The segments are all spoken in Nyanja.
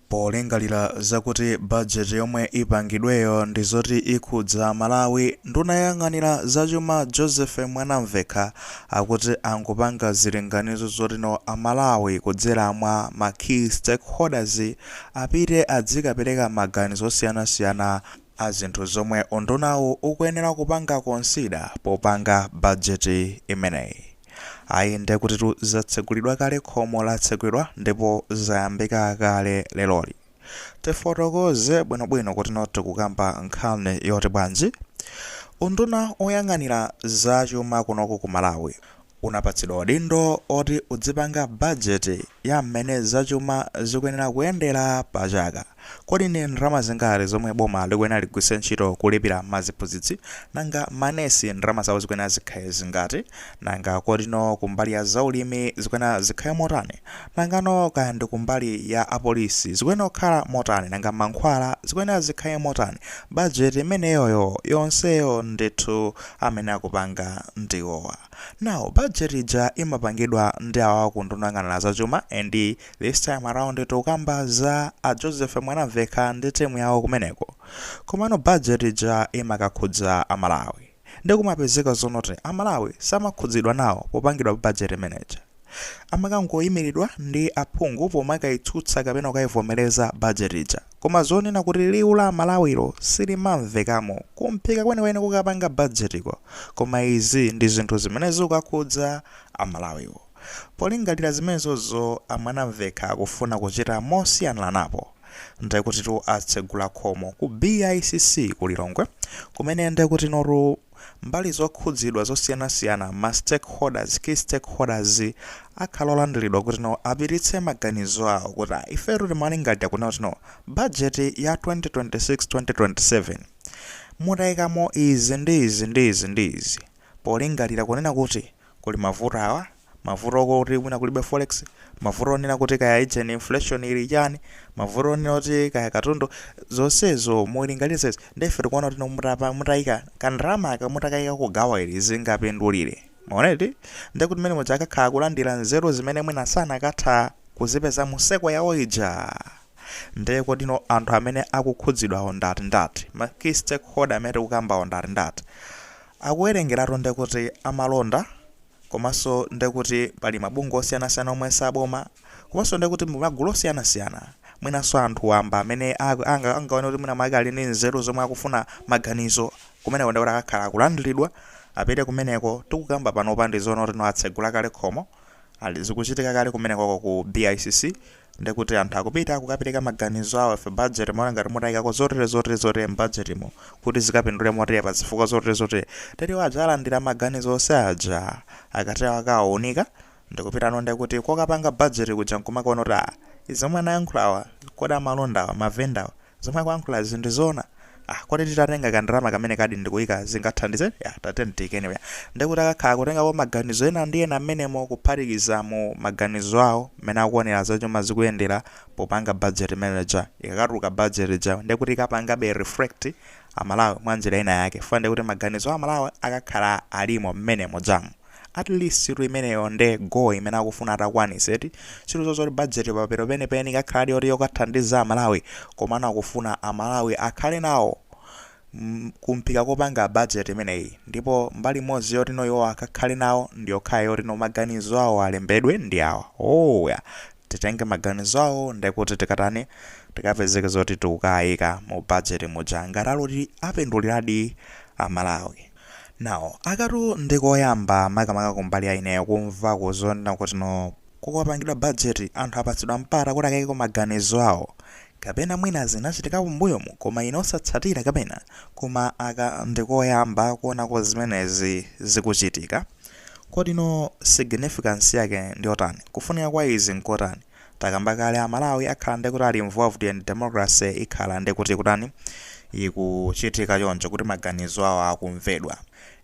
Polingalira zakuti bajeti yomwe ipangidweyo ndi zoti ikhudza Amalawi, nduna yoyang'anira zachuma Joseph Mwanamvekha akuti akupanga zilinganizo zotino Amalawi kudzera mwa ma key stakeholders apite adzikapereka maganizo osiyanasiyana a zinthu zomwe undunawu ukuyenera kupanga consider popanga bajeti imeneyi. Ayi ndekutitu zatsegulidwa kale khomo latsegulidwa ndipo zayambika kale leroli. Tifotokoze bwinobwino kutino tikukamba nkhani yoti bwanji? Unduna oyang'anira za chuma kunoko ku Malawi unapatsidwa udindo oti udzipanga bajeti ya mmene zachuma zikuyenera kuyendera pa chaka. Kodi ni ndalama zingati zomwe boma likuyenera ligwiritse ntchito kulipira ma ziphunzitsi? Nanga ma nesi ndalama zawo zikuyenera zikhale zingati? Nanga kotino kumbali ya zaulimi zikuyenera zikhale motani? Nangano kaya ndi kumbali ya a polisi zikuyenera kukhala motani? Nanga mankhwala zikuyenera zikhale motani? Budget imeneyoyo yonseyo ndithu amene akupanga ndi iwowa. Now budget ija imapangidwa ndi awawa ku nduna yoyang'anira za chuma and This time around tikukamba za a Joseph Mwanamvekha ndi timu yawo kumeneko. Komano budget ija imakakhudza a Malawi. Nde kumapezeka zonoti a Malawi samakhudzidwa nawo popangidwa budget imene ija. Amakangoyimiridwa ndi aphungu pomakayitsutsa kapena kukayivomereza budget ija. Koma zoonena kuti liwu la a Malawilo silimamvekamo kumphika kwenikweni kukapanga budget ko. Koma izi ndi zinthu zimene zikakhudza a Malawiwo. Polingalira zimenezozo a Mwanamvekha akufuna kuchita mosiyanako napo nde kutitu atsegula khomo ku BICC ku Lilongwe kumene nde kutinotu mbali zokhudzidwa zosiyanasiyana ma stakeholders, key stakeholders, akhala olandilidwa kutino apititse maganizo awo kuti ifetu timalingalira kunena kutino bajeti ya 2026 2027 mutaikamo izi ndi izi ndi izi ndi izi polingalira kunena kuti Kuli mavuto awa, mavuto okuti mwina kulibe forex, mavuto onena kuti kaya ijeni inflation ili chani, mavuto onena kuti kaya katundu, zonsezo mulinganize izi nde ife tikuona kuti inu mutapa, mutaika ka ndalama aka mutakaika ku gawo ili zingapindulire? Mwaona eti? Nde kuti mmene muja akakhala akulandira nzeru zimene mwina sanakatha kuzipeza mu seko yawo ija. Nde kodino anthu amene akukhudzidwawo ndi ati ndi ati? Ma key stakeholder amene tikukambawo ndi ati ndi ati? Akuwerengeratu ndekuti amalonda komanso ndekuti pali mabungwe osiyanasiyana omwe si aboma komanso ndekuti ndi magulu osiyanasiyana mwinanso anthu wamba amene angaone kuti mwina mwake ali ndi nzeru zomwe akufuna maganizo, kumeneko ndekuti akakhala akulandiridwa, apite kumeneko. Tikukamba panopa ndizoona kuti no atsegula kale khomo, zikuchitika kale kumenekoko ku BICC. ndekuti anthu akupita kukapereka maganizo awo ife budget timaona ngati mutayikako zotere zotere zotere mbudgetmu kuti zikapindule motere pa zifukwa zotere zotere tere adzalandira maganizo onse aja akati akawaunika ndikupitano ndekuti kokapanga budget kuja nkumakaona kuti ah izi omwe anayankhulawa kodi amalondawa mavendawa Zomwe akuyankhulazi ndizoona? Ah kodi titatenga ka ndalama kamenekadi ndikuyika zingathandize? Yeah tatiyeni tiyike anyway. Ndekuti akakhala akutengako maganizo ena ndi ena mmenemo kuphatikizamo maganizo awo mmene akuonera zachuma zikuyendera popanga budget imene ija. Ikakatuluka budget ijayo ndekuti ikapangabe reflect a Malawi mwa njira ina yake. Chifukwa ndekuti maganizo a Malawi akakhala alimo mmene mujamo. At least situ imeneyo nde goal imene akufuna atakwanise eti. Situ zozoti budget paja penipeni ikakhaladi yoti yokathandiza a Malawi komano akufuna a Malawi akhale nawo ku mphika kopanga budget imeneyi ndipo mbali imodzi yoti no iwowa akakhale nawo ndiyokhayo yoti no maganizo awo alembedwe ndi awa. Ooo ya. Titenge maganizo awo ndekuti tikatani tikapezeke zoti tikukaika mu budget muja ngati ali oti apinduliradi a Malawi. Now akatu ndi koyamba makamaka kumbali ya ineyo kumvako zonena kuti no kukapangidwa budget anthu apatsidwa mpata kuti akaikeko maganizo awo kapena mwina zinachitikapo mbuyomu koma ine osatsatira kapena koma aka ndi koyamba kuonako zimenezi zikuchitika kodi no significance yake ndiyotani kufunika kwa izi nkotani Takamba kale amalawi akhala nde kuti ali involved ndi democracy ikhala nde kuti ikutani? Ikuchitika choncho kuti maganizo awo akumvedwa.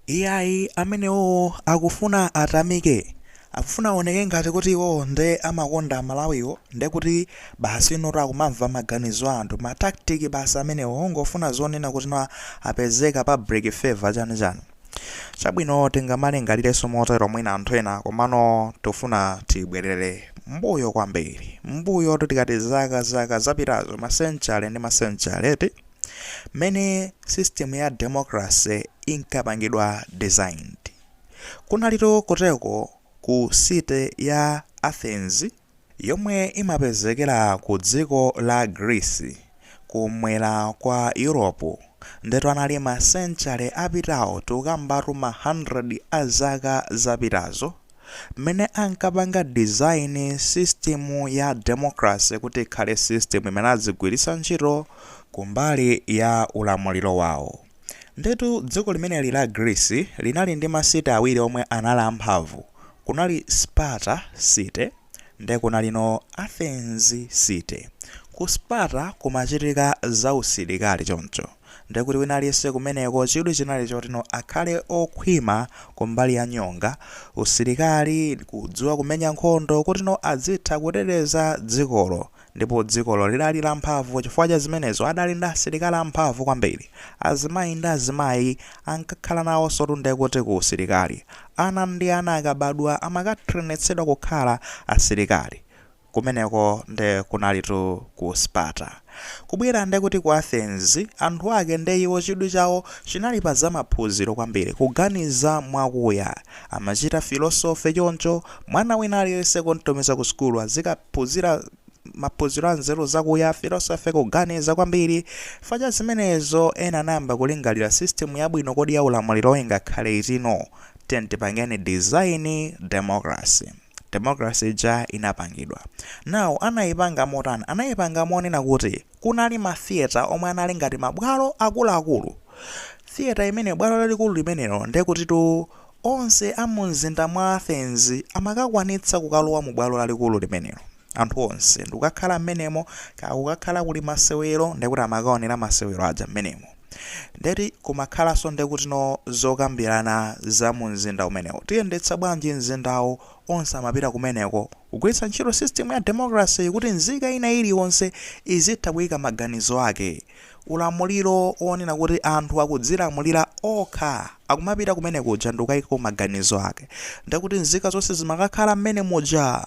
Iyayi amenewowo akufuna atamike? Akufuna awoneke ngati kuti iwowo nde amakonda amalawiwo nde kuti basi notu akumamva maganizo a anthu. Ma tactic basi amenewo ongofuna zonena kuti no apezeke pa public favour chani chani. Chabwino, tingamalingalirenso motero mwina anthu ena, komano tikufuna tibwerere mmbuyo kwambiri, mmbuyotu tikati zaka, zaka zapitazo, masenchale ndi masenchale, eti, mmene system ya democracy inkapangidwa designed. Kunalitu kotereko ku city ya Athens. yomwe imapezekera ku dziko la Greece, ku mwera kwa Europe, ndetu anali masenchale apitawo tikukambatu ma hundred a zaka zapitazo, mmene ankapanga design system ya democracy kuti ikhale system imene azigwiritsa ntchito kumbali ya ulamuliro wawo. Ndetu dziko limeneli la Greece linali ndi ma city awiri omwe anali amphamvu. Kunali Sparta city nde kunali no Athens city. Ku Sparta kumachitika za usilikali choncho nde kuti wina aliyense kumeneko chidwi chinali choti no akhale okhwima kumbali ya nyonga, usilikali, kudziwa kumenya nkhondo kuti no adzitha kuteteza dzikolo Ndipo dzikolo lidali lamphamvu chifukwa cha zimenezo adali ndi asilikali amphamvu kwambiri. Azimayi ndi azimayi ankakhala nawonsotu nde kuti ku usilikali. Ana ndi ana akabadwa amakatrenetsedwa kukhala asilikali. Kumeneko nde kunalitu ku Sparta. Kubwera nde kuti ku Athens, anthu ake nde iwo chidwi chawo chinali pa za maphunziro kwambiri, kuganiza mwakuya. Amachita filosofe choncho. Mwana wina aliyense kum'tumiza ku sukulu azikaphunzira maphunziro a nzeru zakuya, philosophy, kuganiza kwambiri. Chifukwa cha zimenezo, ena anayamba kulingalira system yabwino kodi ya ulamuliro ingakhale iti no? Tiyeni tipangeni design democracy. Democracy ija inapangidwa. Now, anaipanga motani? Anaipanga monena kuti. Kunali ma theatre omwe anali ngati ma bwalo akuluakulu. Theatre imene bwalo lalikulu limenelo nde kutitu onse a mu mzinda mwa Athens amakakwanitsa kukalowa mu bwalo lalikulu limenelo. Anthu onse ndikukakhala mmenemo kaya kukakhala kuli masewero nde kuti amakaonera masewero aja mmenemo. Nde kuti kumakhalanso nde kutino zokambirana za mu mzinda umenewo. Tiyendetsa bwanji mzindawu? Onse amapita kumeneko Kugwiritsa ntchito system ya democracy kuti nzika ina iliyonse izitha kuika maganizo ake. Ulamuliro onena kuti anthu akudzilamulira okha, akumapita kumene kuja ndikukaika maganizo ake. Nde kuti nzika zonse zimakakhala mmene muja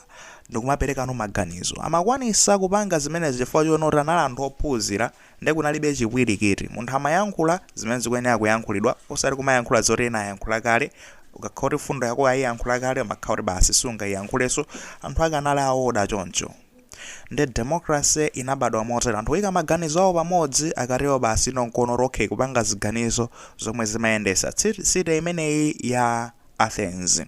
ndikumapereka no maganizo. Amakwanisa kupanga zimenezi chifukwa choona kuti anali anthu ophunzira. Nde kunalibe chipwirikiti. Munthu amayankhula zimene zikuyenera kuyankhulidwa osati kumayankhula zoti ena ayankhula kale. Ukakhala kuti fundo yako ayiyankhula kale umakhala kuti basi sungayiyankhulenso. Anthu ake anali a order choncho. Nde democracy inabadwa motero. Anthu kuyika maganizo awo pamodzi akatero basi no nkono rokhe kupanga ziganizo zomwe zimayendesa city imeneyi ya Athens.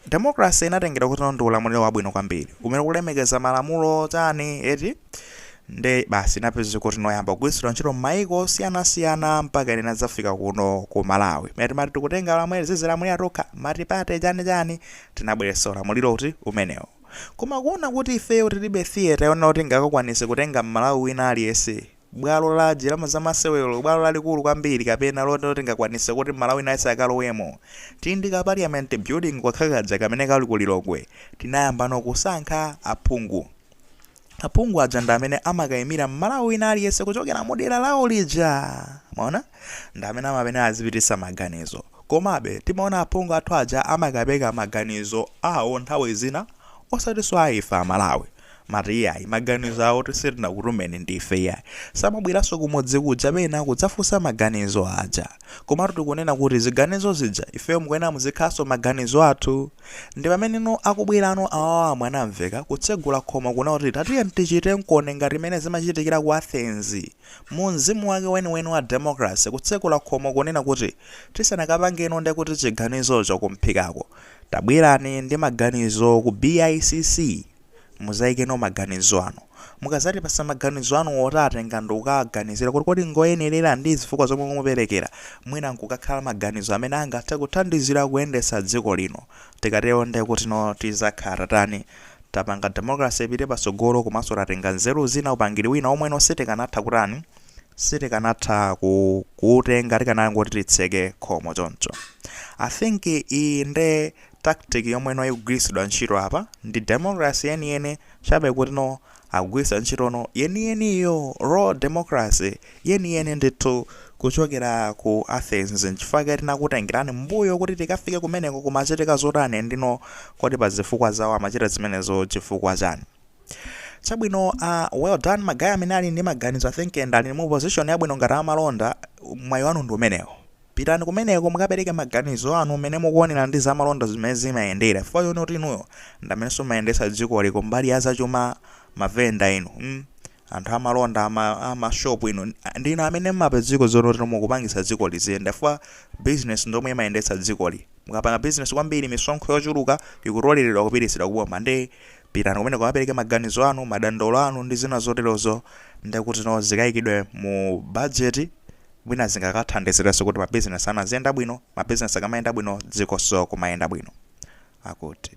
Democracy inatengedwa kuti no ndi ulamuliro wabwino kwambiri, umene ukulemekeza malamulo chani eti, nde basi inapezeka kuti no yayamba kugwiritsidwa ntchito m'mayiko osiyanasiyana mpakana inadzafika kuno ku Malawi, kumene timati tikutenga ulamuliro, tizidzilamulira tokha, multiparty chani chani, tinabweretsa ulamuliro uti, umenewo. Koma kuona kuti ifeyo tilibe theatre yonena kuti ingakakwanitse kutenga Mmalawi wina aliyense, bwalo lanji la ma zamasewero bwalo lalikulu kwambiri kapena loti tingakwanise kuti mmalawi wina aliyense akalowemo tili ndi ka parliament building kokha kaja kamene kali ku lilongwe tinayambano kusankha aphungu aphungu aja ndi amene amakayimira mmalawi wina aliyense kuchokera mu dera lawo lija mwaona ndi amene amayenera azipitisa maganizo komabe timaona aphungu athu aja amakapereka maganizo awo nthawi zina osatiso aife amalawi Mati iyayi maganizo awo oti sitinakutumeni ndife iyayi. Samabweraso kumudzi kuja pena kudzafunsa maganizo aja. Komatu tikunena kuti ziganizo zija ifeyo mukuyenera muzikhalaso maganizo athu. Ndipameneno akubwerano awa a Mwanamvekha kutsegula khomo kunena kuti tatiyeni tichitekoni ngati mmene zimachitikira ku Athens. Mu mzimu wake weniweni wa democracy kutsegula khomo kunena kuti tisanakapangeno ndekuti chiganizocho kumphikako. Tabwerani ndi maganizo ku BICC muzaikeno maganizo anu. Mukazatipasa maganizo anuwo tawatenga ndikukawaganizira kuti kodi ngoyenerera ndi zifukwa zomwe mukuperekera, mwina nkukakhala maganizo amene angathe kuthandizira kuyendetsa dziko lino. Tikatero nde kutino tizakhala tatani? Tapanga democracy ipite patsogolo komanso tatenga nzeru zina, upangiri wina womweno sitikanatha kutani? sitikanatha ku, kuutenga tikanangoti titseke khomo choncho i think iyi nde tactic yomwe no ikugwiritsidwa ntchito apa ndi democracy yeniyeni chabe kuti no akugwiritsa ntchito no yeniyeniyo raw democracy yeniyeni ndithu kuchokera ku athens nchifukwa chake tinakutengerani mbuyo kuti tikafike kumeneko kumachitika zotani ndino kodi pa zifukwa zawo amachita zimenezo chifukwa chani chabwino uh, well done magaye amene ali ndi maganizo i think and ali mu position yabwino ngati amalonda mwayi wanu ndi umenewo pitani kumeneko mukapereke maganizo anu mmene mukuonera ndi zamalonda zimene zimayendera chifukwa choti kuti inuyo ndamenenso mmayendesa dzikoli ku mbali ya zachuma mavenda inu mm? anthu amalonda ama- amashopu inu ndinu amene mmapedziko zono tino mukupangisa dziko liziyenda chifukwa business ndomwe imayendetsa dzikoli mukapanga business kwambiri misonkho yochuluka ikutoleredwa kupititsidwa kuboma ndi Pitani kumeneko mukapereke maganizo anu, madandaulo anu ndi zina zoterozo ndiye kutino zikayikidwe mu bajeti mwina zingakathandizirenso kuti mabizinesi anu aziyenda bwino, mabizinesi akamayenda bwino dzikonso kumayenda bwino, akuti.